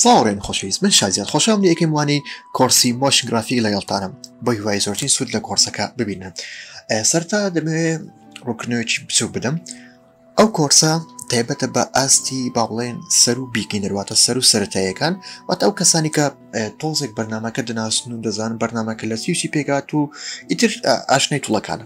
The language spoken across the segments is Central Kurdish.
سڵاو ڕێم خۆشەویست من شازیان خۆشحاڵم لە یەکەم وانەی کۆڕسی مۆشن گرافیک لەگەڵتانم بە هیوای زۆرترین سوود لە کۆڕسەکە ببینن سەرتا دەمەوێ ڕوونکردنەوەیەکی بچووک بدەم ئەو کۆرسە تایبەتە بە ئاستی با بڵێن سەر و بیگی نەرواتە سەر و سەتایەکان وات ئەو کەسانی کە تۆزێک بەرنمەکە دەناسن و دەزان بەرنمەکە لە سیوسی پێگات و ئیتر ئاشنای توڵەکانە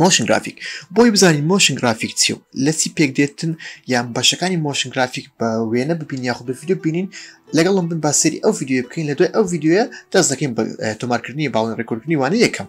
مۆشن گرافیک بۆی بزانین مۆشن گرافیک چی و لەسی پێک دێتن یان بەشەکانی مۆشن گرافیک بە وێنە ببین یاخود بە ویددیو بینین لەگەڵم بن باسەری ئەو ویددیوە بکەین لە دوای ئەو ویددیوە دەست دەکەین بە تۆمارکردنی باڵن ڕێکوردنی وانە یەکەم.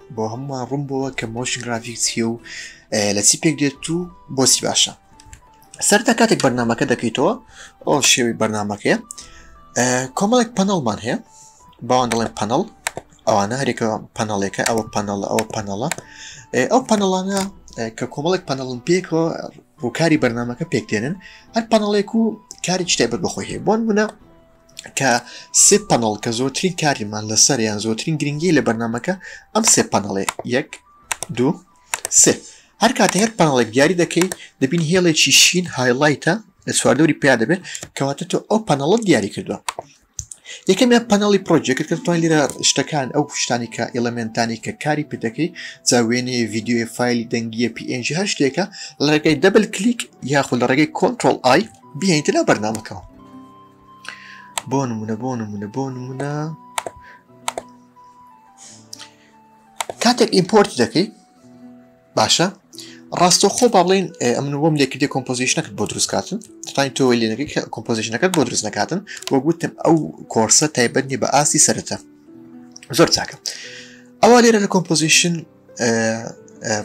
بۆ هەمووان ڕوون بۆوە کە مۆشن گرافیک چیە و لە چی پێک دێت و بۆچی باشە سەرتا کاتێک بەرنمەکە دەکەیتەوە ئەو شێوی بەرنمەکەیە کۆمەڵێک پەنەڵمان هەیە باوان دەڵێن پەنەڵ ئەوانە هەرێکە پەنەڵێکە ئەوە پەنەڵ ئەوە پەنەڵە ئەو پەنەڵانە کە کۆمەڵێک پەنەڵم پێکەوە ڕووکاری بەرنمەکە پێکتێنن هەر پەنەڵێک و کاری شتای بەر بەخۆی هەیە بۆن منە کە سێ پەنەڵ کە زۆرترین کاریمان لەسەر یان زۆرترین گرنگی لە بەرنمەکە ئەم سێ پەنەڵێ یەک دوو سێ هەر کاتە هەر پەنەڵێک دیاری دەکەی دەبین هێڵێکی شین هایلایتە لە چواردەوری پیا دەبێت کەواتە تۆ ئەو پەنەڵت دیاری کردووە یەکەمیان پەنەڵی پرۆژێکت کە توان لێرە شتەکان ئەو شتانی کە ئیلمنتانی کە کاری پێدەکەی جاوێنێ ویددیوی فیلی دەنگیە پNG هەر شتێکە لە ڕێگەی دەبل کلیک یاخود لە ڕێگەی کۆنتترۆل ئای بهێنیتە لە بەرنمەکەەوە بۆ نمونە بۆ نمونە بۆ نمونە کاتێک ئیمپۆرت دەکەی باشە ڕاستەخۆ با بڵین ئەمن وەم لێکردی کۆمپۆزیشنەکەت بۆ دروستکاتن تانی تۆ لێنەکەی کۆمپۆزیشنەکەت بۆ دروست نکاتن وە گوتم ئەو کۆرسە تایبەتنی بە ئاستی سەرەتا زۆر چاکە ئەوە لێرە لە کۆمپۆزیشن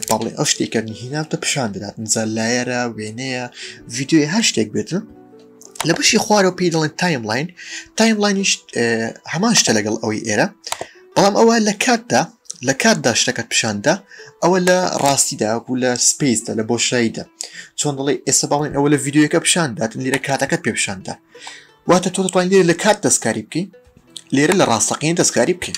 بەڵێ ئەو شتێکە نهیناوتە پیشان دەدات نزا لایەرە وێنەیە ڤیددیوی هەر شتێک بێتن لە بەشی خوارەوە پێی دەڵێن تایملاین تایملاینیش هەمان شتە لەگەڵ ئەوەی ئێرە بەڵام ئەوە لە کاتدا لە کاتدا شتەکەت پیشاندا ئەوە لە ڕاستیدا بوو لە سپیسدا لە بۆشاییدا چۆن دەڵی ئێستا باڵێن ئەوە لە یددیوەکە پیشان داتن لێرە کاتەکەت پێ پیشاندا واتە تۆ دەتوانین لێرە لە کات دەستکاری بکەین لێرە لە ڕاستەقین دەستکاری بکەین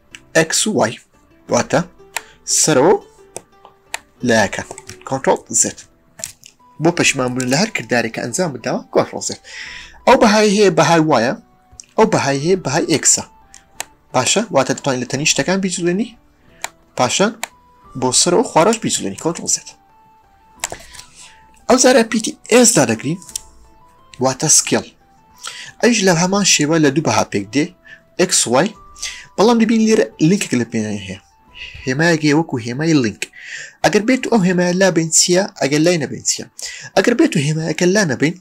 ئەکس و وای واتە سەرەوە لایەکە کۆنتۆل زێت بۆ پەشمان بوون لە هەر کردارێکە ئەنجام بداوە کۆنتۆل زێت ئەو بەهای هەیە بەهای وایە ئەو بەهای هەیە بەهای ئێکسە باشە واتە دەتوانین لە تەنی شتەکان بیجوێنی پاشان بۆ سەرەوە خوارەش بیجوێنی کۆنتۆل زێت ئەو زارە پیتی ئێسدا دەگرین واتە سکێڵ ئەیش لە هەمان شێوە لە دوو بەها پێک دێ XY بەڵام دەبین لێرە لینکێک لە پێناوی هەیە هێمایەگەی وەکو هێمای لینک ئەگەر بێت ئەو هێمای لا بین چییە ئەگەر لای نەبین چیە ئەگەر بێت و هێمایەکە لا نەبین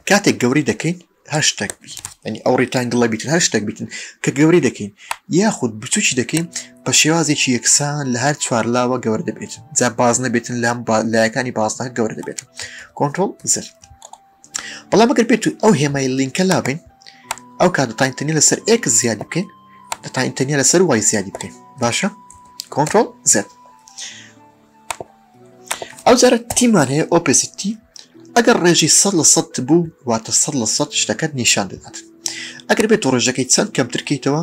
کاتێک گەوری دەکەین هەشتێک بی ینی ئەو ڕیتانگڵە بیتن هەشتێک بیتن کە گەوری دەکەین یاخود بچوکی دەکەین بە شێوازێکی یەکسان لە هەر چوار لاوە گەور دەبێت جا باز نەبێتن لام لایەکانی بازنە گەور دەبێت کۆنتترۆل زر بەڵام ئەگەر بێت و ئەو هێمای لینکە لابین ئەو کات دەتا ئینتەرنی لەسەر ئێک زیادی بکەین دەتا ئینتەرنی لەسەر وای زیادی بکەین باشە کۆنتۆل زێت ئەو جارە تیمان هەیە ئۆپسیتی ئەگەر ڕێژی سە لە سە بوو واتە سە لە سە شتەکەت نیشان دەدات ئەگەر بێت و ڕێژەکەی چەند کەمترکەیتەوە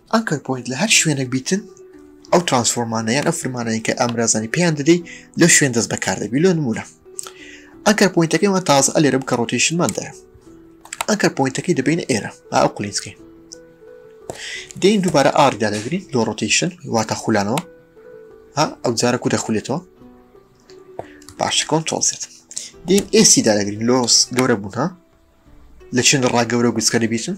Anchor Point لە هەر شوێنەک بیتن ئەو ترانسفۆرمانە یان ئەو فرمانەیە کە ئامرازانی پێیان دەدەی لەو شوێن دەست بەکار دەبی لۆ نمونە ئەنکەر پوینتەکەی وان تازە ئەلێرە بکە ڕۆتیشنمان دەیە ئەنکەر پوینتەکەی دەبینە ئێرە ئەو قلینسکی دین دووبارە ئاردا دەگرین لۆ ڕۆتیشن واتە خولانەوە ها ئەو جارە کو دەخولێتەوە باشە کۆنتۆزێت دین ئێسی دادەگرین لۆس گەورە بوون ها لە چێن ڕا گەورە گوچکە دەبیتن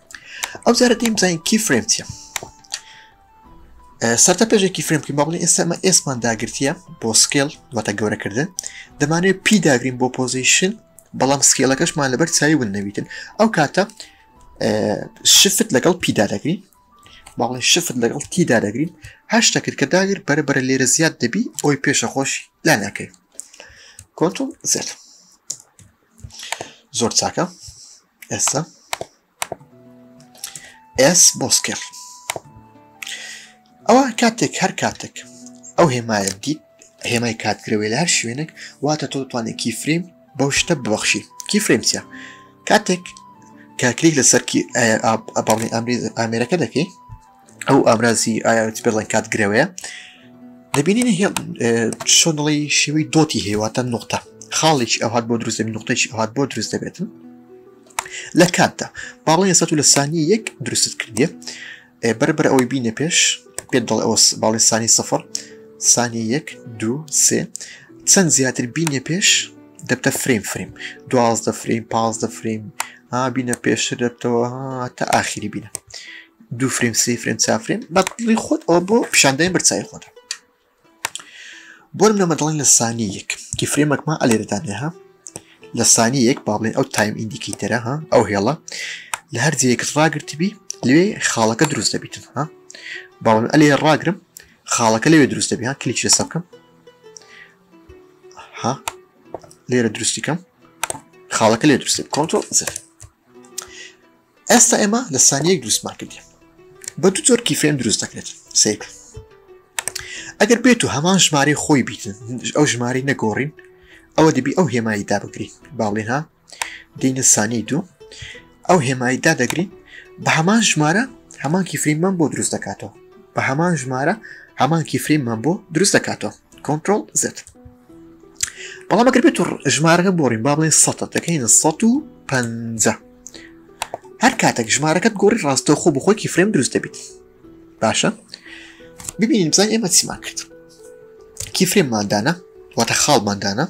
ئەو جارە دیم بزانین کی فرێم چیە سەرتا پێشێکی فرێم بکەین باڵی ئێسمە ئێسمان داگرتیە بۆ سکێل واتە گەورەکردن دەمانێت پی داگرین بۆ پۆزیشن بەڵام سکێلەکەشمان لەبەر چاوی ون نەویتن ئەو کاتە شفت لەگەڵ پیدا دەگرین باڵی شفت لەگەڵ تیدا دەگرین هەشتا کرد کە داگر بەرە بەرە لێرە زیاد دەبی ئەوی پێشە خۆش لا ناکەی کۆنتۆل زێت زۆر چاکە ئێستا ئێس بۆ سکێڵ ئەوە کاتێک هەر کاتێک ئەو هێمایە دیت هێمای کاتگرەوەی لە هەر شوێنێک واتە تۆ دەتوانێت کی فریم بەو شتە ببەخشی کی فرمسە کاتێک کاکلیک لەسەرکی ئەبڵی ئەمری ئامێرەکە دەکەی ئەو ئامرازی ئایاتی بەڵێن کات گرەوەیە دەبینین هێڵ شۆنڵی شێوەی دۆتی هێواتە نقطە خاڵێکی ئەوهات بۆ دروست دەبێت نقطێکی ئەوهات بۆ دروست دەبێتن لە کاتدا باڵی سە لە سانی یەک دروستت کردێ بەربەر ئەوەی بینە پێش پێ دڵ ئەوس باڵی سانی سفر سانی یەک دو سێ چەند زیاتر بینە پێش دەبتە فریم فریم دوازدە فریم پازدە فریم بینە پێشتر دەبتەوە تا ئاخیری بینە دوو فریم سی فریم چافرین بەڵی خۆت ئەو بۆ پیشاندای برچای خۆت بۆرم لەمە دەڵێن لە سانی یەک کی فرێمەکمان ئەلێرەدانێ ها لە سانی یەک با بڵێن ئەو تایم ئیندیکی تەرە ها ئەو هێڵە لە هەر جەیەکت ڕاگرتبی لێ خاڵەکە دروست دەبیتن ها باڵم ئەلێ ڕاگرم خاڵەکە لەوێ دروست دەبی ها کلیچ لەسە بکەم ها لێرە دروستیکەم خاڵەکە لێ دروست کۆنتۆ زفت ئێستا ئێمە لە سانیەک دروستمان کردی بە دوو جۆر کیفێن دروست دەکرێت سیر ئەگەر بێت و هەمان ژمارە خۆی بیتن ئەو ژماری نەگۆڕین ئەوە دەبی ئەو هێمایی دابگری باڵێنها دینە سانی دوو ئەو هێمایی دادەگری بە هەمان ژمارە هەمان کیفریمان بۆ دروست دەکاتەوە بە هەمان ژمارە هەمان کیفریمان بۆ دروست دەکاتەوە کۆنتترۆل زێت بەڵام ئەگەر بێت و ژمارەکە بۆڕین با بڵێن سە دەکەین 150 هەر کاتێک ژمارەکەت گۆڕی ڕاستەوخۆ بە خۆکی فرێم دروست دەبیت باشە ببینین بزان ئێمە چیمان کرد کی فرێمماندانە واتە خاڵماندانە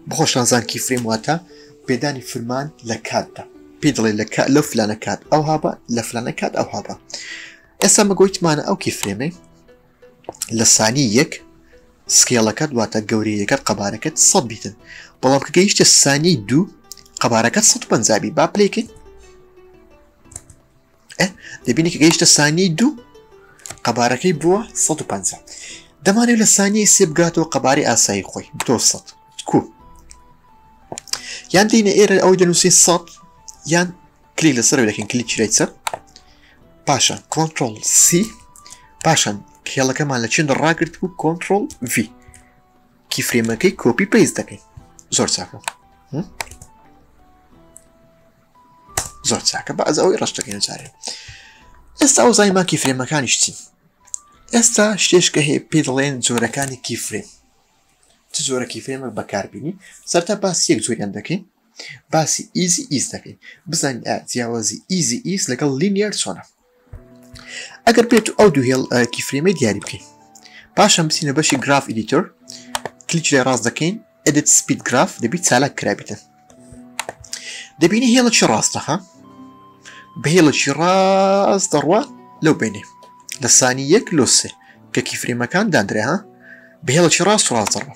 بخۆشانزان کی فرێم واتە پێدانی فرمان لە کاتدا پێ دڵێ لە کات لەو فلانە کات ئەو هابە لە فلانە کات ئەو هابە ئێستا مەگویتمانە ئەو کی فرێمەی لە سانی یەک سکێڵەکەت واتە گەورەیەکەت قەبارەکەت سەد بیتن بەڵام کە گەیشتە سانی دوو قەبارەکەت 150 بی با پلیکەین دەبینی کە گەیشتە سانی دوو قەبارەکەی بووە 150 دەمانێت لە سانی سێ بگاتەوە قەباری ئاسایی خۆی بتۆ سە کو یان دینە ئێرە ئەوەی دەنووسی سە یان کلیک لەسەر دەکەین کلیک چرای چەپ پاشان کۆنتترۆل سی پاشان کێڵەکەمان لە چێن ڕاگررت بوو کۆنتترۆل V کیفرێمەکەی کۆپی پێیز دەکەین زۆر چاکە زۆر چاکە بە ئەز ئەوەی ڕشتەکەین جارێ ئێستا ئەو زای ماکی فرێمەکانیش چین ئێستا شتێشکە هەیە پێ دەڵێن جۆرەکانی کیفرێن چ جۆرەکی فرێمە بەکاربیینی سەرتا باس یەک جۆریان دەکەین باسی ئیزی ئیس دەکەین بزانین ئایا جیاوازی ئیزی ئیس لەگەڵ لینیەر چۆنە ئەگەر بێت ئەو دوو هێڵ کیفرێمەی دیاری بکەین پاشان بچینە بەشی گراف ئیدیتۆر کلیچ لێ ڕاست دەکەین ئەدت سپید گراف دەبیت چالاک کرابیتن دەبینی هێڵەکی ڕاستەها بە هێڵەکی ڕاست دەڕوە لەو بینێ لە سانی یەک لۆسێ کەکی فرێمەکان دادرێها بە هێڵەکی ڕاست ڕاستەڕوە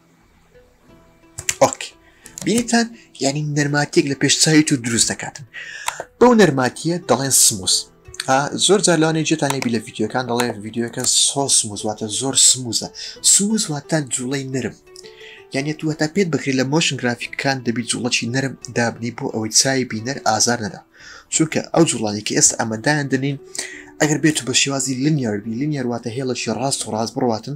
ئۆک بینیتان یعنی نەرماتیەک لە پێش چاوی تو دروست دەکاتن بەو نەرماتیە دەڵێن سموس زۆر جار لەوانێ جێتان لێبی لە یددیوەکان دەڵێ یددیوەکە سۆ سموز واتە زۆر سموزە سموز واتە جوڵەی نرم یانە تو هەتا پێت بکرێت لە مۆشن گرافیکەکان دەبی جوڵەی نرم دابنی بۆ ئەوەی چای بینەر ئازار نەدا چونکە ئەو جوڵانی کە ئێستا ئەمەدایان دەنین ئەگەر بێت بە شێوازی لنیاربی لنیارواتە هێڵەکی ڕاست و ڕاست بڕاتن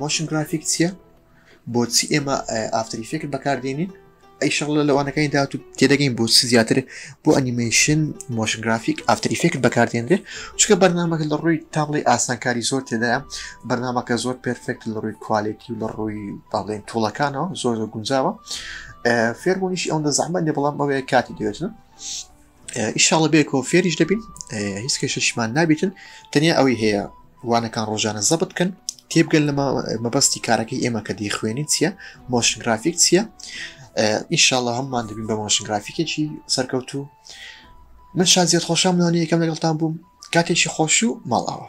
مۆشن گرافیک چییە بۆچی ئێمە ئافتری فکر بەکاردێنین ئەی شەڵە لەوانەکانی داات و تێدەگەین بۆ زیاتر بۆ ئەنیمەیشن مۆشنگرافیک ئافتری فکر بەکاردێنرێ چکە بەرنمەکە لە ڕووی تاڵی ئاسانکاری زۆر تێدایە بەرنمەکە زۆر پرفێکت لە ڕووی کوالێتی و لە ڕووی باڵێن توڵەکانەوە زۆر زۆر گونجاوە فێربوونیش ئەوەندە زەحمە نێ بەڵام ئەوەیە کاتی دێتن ئیشاڵە بێکەوە فێریش دەبین هیچ کێشەشمان نابیتن تەنیا ئەوەی هەیە وانەکان ڕۆژانە زەبت بکەن تێبگەن لەمە مەبەستی کارەکەی ئێمە کە دیخوێنی چییە مۆشنگرافیک چییە ئیشاڵە هەممان دەبین بە مۆشنگرافیکێکی سەرکەوتو من شازیت خۆشم نانی یەکەم لەگەڵتان بووم کاتێکی خۆش و ماڵاوە